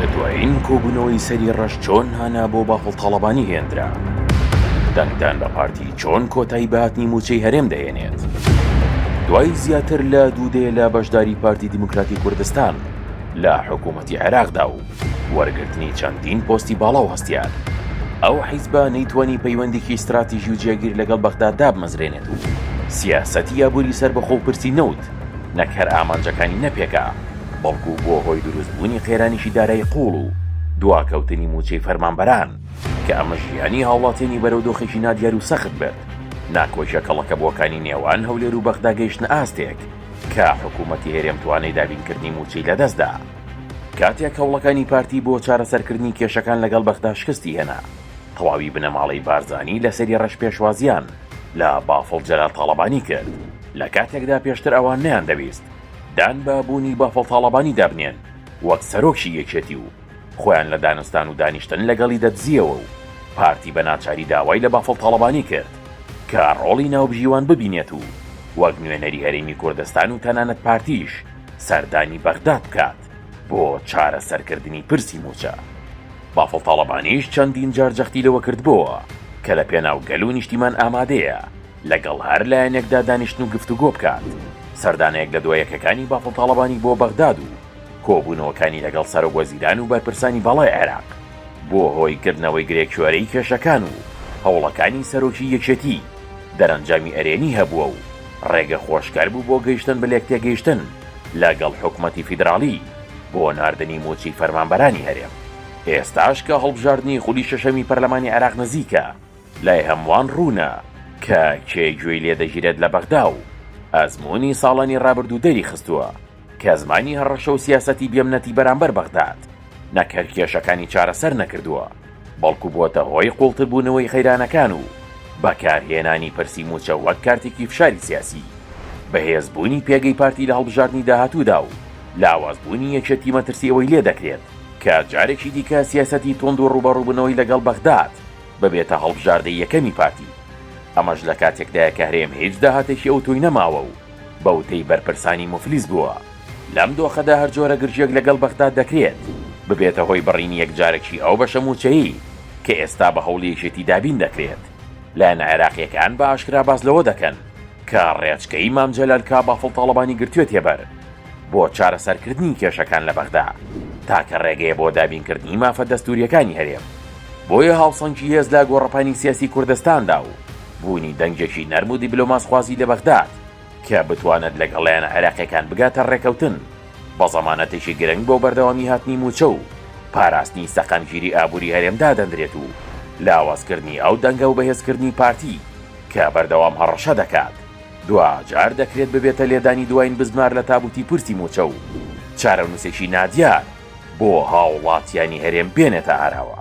لە دوایین کۆبوونەوەی سەری ڕەش چۆن هانا بۆ بافڵ تاڵەبانی هێندرا؟ دەنگدان بە پارتی چۆن کۆتایی بە هاتنی مووچەی هەرێم دەهێنێت؟ دوای زیاتر لە دوو دەیە لە بەشداری پارتی دیموکراتی کوردستان لە حکوومەتی عێراقدا و وەرگرتنی چەندین پۆستی باڵا و هەستیار، ئەو حیزبە نەیتوانی پەیوەندیی ستراتیژی و جێگیر لەگەڵ بەغدا دابمەزرێنێت و سیاسەتی ئابووری سەربەخۆ و پرسی نەوت نەک هەر ئامانجەکانی نەپێکا، بەڵکو بووە هۆی دروستبوونی قەیرانێکی دارایی قووڵ و دواکەوتنی مووچەی فەرمانبەران، کە ئەمەش ژیانی هاوڵاتیانی بەرەو دۆخێکی نادیار و سەخت برد. ناکۆکیە کەڵەکەبووەکانی نێوان هەولێر و بەغدا گەیشتنە ئاستێک، کە حکوومەتی هەرێم توانای دابینکردنی مووچەی لەدەستدا. کاتێک هەوڵەکانی پارتی بۆ چارەسەرکردنی کێشەکان لەگەڵ بەغدا شکستی هێنا، تەواوی بنەماڵەی بارزانی لە سەری ڕەش پێشوازیان، لە بافڵ جەلال تاڵەبانی کرد، لە کاتێکدا پێشتر ئەوان نەیاندەویست دان بە بوونی بافڵ تاڵەبانیدا بنێن وەک سەرۆکی یەکێتی و خۆیان لە دانوستان و دانیشتن لەگەڵی دەدزییەوە و پارتی بە ناچاری داوای لە بافڵ تاڵەبانی کرد کە ڕۆڵی ناوبژیوان ببینێت و وەک نوێنەری هەرێمی کوردستان و تەنانەت پارتیش سەردانی بەغداد بکات. دەکات بۆ چارەسەرکردنی پرسی مووچە. بافڵ تاڵەبانیش چەندین جار جەختی لەوە کردبۆوە کە لە پێناو گەل و نیشتیمان ئامادەیە لەگەڵ هەر لایەنێکدا دانیشتن و گفتوگۆ بکات. سەردانە یەک لە دوا یەکەکانی بافڵ تاڵەبانی بۆ بەغداد و کۆبوونەوەکانی لەگەڵ سەرۆک وەزیران و بەرپرسانی باڵای عێراق، بووە هۆی کردنەوەی گرێکوێرەی کێشەکان و هەوڵەکانی سەرۆکی یەکێتی، دەرەنجامی ئەرێنی هەبووە و، ڕێگە خۆشکەر بوو بۆ گەیشتن بە لێکتێگەیشتن لە گەڵ حکومەتی فیدراڵی بۆ ناردنی مووچەی فەرمانبەرانی هەرێم. ئێستاش کە هەڵبژاردنی خولی شەشەمی پەرلەمانی عێراق نزیکە، لای هەمووان ڕوونە کە کێ گوێی لێ دەگیرێت لە بەغدا و ئەزموونی ساڵانی ڕابردوو دەریخستووە، کە زمانی هەڕەشە و سیاسەتی بێمنەتی بەرامبەر بەغداد، نەک هەر کێشەکانی چارەسەر نەکردووە، بەڵکو بۆتە هۆی قوڵتربوونەوەی قەیرانەکان و بەکارهێنانی پرسی مووچە وەک کارتێکی فشاری سیاسی، بەهێزبوونی پێگەی پارتی لە هەڵبژاردنی داهاتوودا و لاوازبوونی یەکێتی مەترسی ئەوەی لێدەکرێت، کە جارێکی دیکە سیاسەتی توند و ڕووبەڕووبوونەوەی لەگەڵ بەغداد ببێتە هەڵبژاردەی یەکەمی پارتی، ئەمەش لە کاتێکدایە کە هەرێم هیچ داهاتێکی ئەوتۆی نەماوە و بەوتەی بەرپرسانی موفلیس بووە. لەم دۆخەدا هەر جۆرە گرژییەک لەگەڵ بەغداد دەکرێت ببێتە هۆی بڕینی یەکجارەکی ئەو بەشە مووچەیەی کە ئێستا بە هەوڵی یەکێتی دابین دەکرێت. لایەنە عێراقییەکان بە ئاشکرا باس لەوە دەکەن کە ڕێچکەی مام جەلال کە بافڵ تاڵەبانی گرتوێتیە بەر، بۆ چارەسەرکردنی کێشەکان لە بەغدا، تاکە ڕێگەیە بۆ دابینکردنی مافە دەستوورییەکانی هەرێم، بۆیە هاوسەنگی هێز لە گۆڕەپانی سیاسی کوردستاندا و بوونی دەنگێکی نەرم و دیبلۆماسخوازی لە بەغداد کە بتوانێت لەگەڵ لایەنە عێراقییەکان بگاتە ڕێککەوتن بە زەمانەتێکی گرنگ بۆ بەردەوامی هاتنی مووچە و پاراستنی سەقامگیری ئابووری هەرێم دادەنرێت و لاوازکردنی ئەو دەنگە و بەهێزکردنی پارتی کە بەردەوام هەڕەشە دەکات دواجار دەکرێت ببێتە لێدانی دواین بزمار لە تابوتی پرسی موچە و چارەنوسێکی نادیار بۆ هاوڵاتیانی هەرێم بێنێتە ئاراوە.